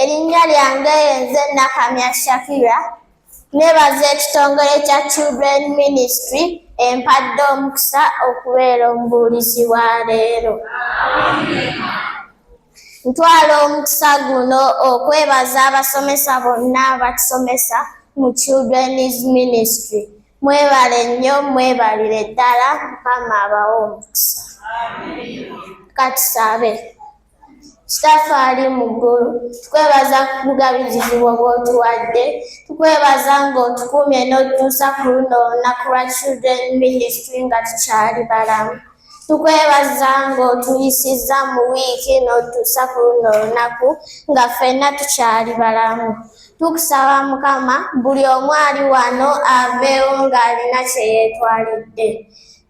Erinnya lyange yenze Nakamya Shakira nebaza ekitongole kya Children Ministry empadde omukisa okubeera omubuulizi wa leero. Ntwala omukisa guno okwebaza abasomesa bonna abatusomesa mu Children's Ministry. Mwebale nnyo mwebalire ddala Mukama abawe omukisa. Katusabe. Sitafa ali mu ggulu tukwebaza kubugabizizi bwo bw'otuwadde tukwebaza ng'otukuumye n'otutuusa ku luno olunaku lwa children ministry nga tukyali balamu tukwebaza ng'otuyisizza mu wiiki n'otutuusa ku luno olunaku nga ffenna tukyali balamu tukusaba mukama buli omu ali wano aveewo ng'alina kye yeetwalidde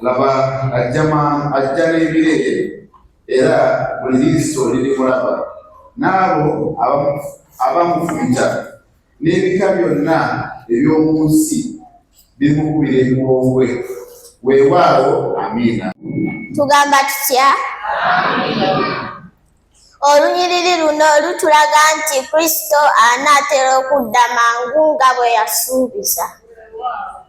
laba ajjama ajja n'ebire era buli liiso lirimulaba n'abo abamufumita n'ebika byonna eby'omu nsi bimukubira ebiwongwe weewaawo amiina tugamba tutya olunyiriri luno lutulaga nti kristo anaatera okudda mangu nga bwe yasuubiza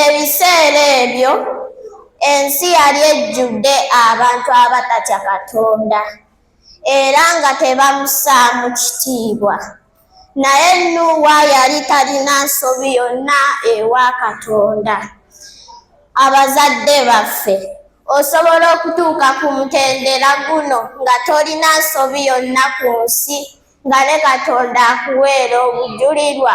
Ebiseera ebyo ensi yali ejjudde abantu abatatya Katonda era nga tebamusaamu kitiibwa. Naye Nuuwa yali talina nsobi yonna ewa Katonda. Abazadde baffe, osobola okutuuka ku mutendera guno nga tolina nsobi yonna ku nsi nga ne Katonda akuweera obujulirwa?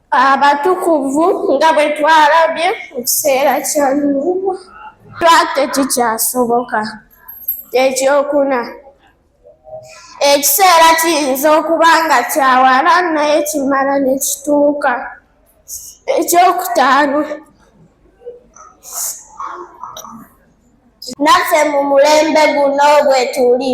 abatukuvu nga bwe twalabye mu kiseera kya Nuuwa. Twate kikyasoboka. Ekyokuna, ekiseera kiyinza okuba nga kyawala naye kimala ne kituuka. Ekyokutaano, naffe mu mulembe guno bwe tuli.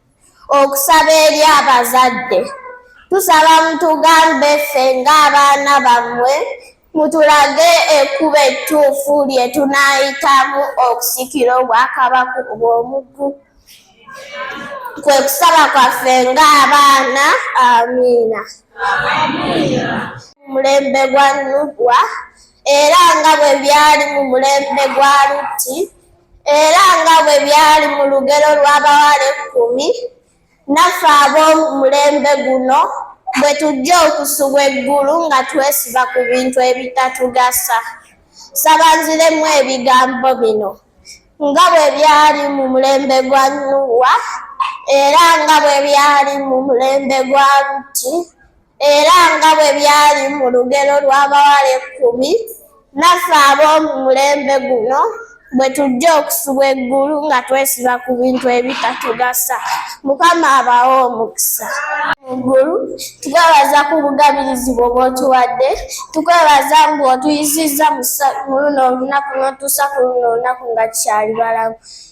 okusaba eri abazadde tusaba mutugambe ffe ng'abaana bammwe mutulage ekkubo ettuufu lye tunaayitamu okusikira obwakabaka obw'omuggu kwe kusaba kwaffe ng'abaana amiina mulembe gwa nubwa era nga bwe byali mu mulembe gwa lutti Era nga bwe byali mu lugero lw'abawala ekkumi, naffe ab'omulembe guno bwe tujja okusubwa eggulu nga twesiba ku bintu ebitatugasa. Sabanziremu ebigambo bino nga bwe byali mu mulembe gwa Nuuwa era nga bwe byali mu mulembe gwa Lutti era nga bwe byali mu lugero lw'abawala ekkumi naffe ab'omu mulembe guno bwe tujja okusubwa eggulu nga twesiba ku bintu ebitatugasa mukama abawo omukisa muggulu tukwebaza ku bugabirizi bwo bwotuwadde tukwebaza mbu otuyisizza mu luno olunaku notuusa ku luno olunaku nga tukyali balamu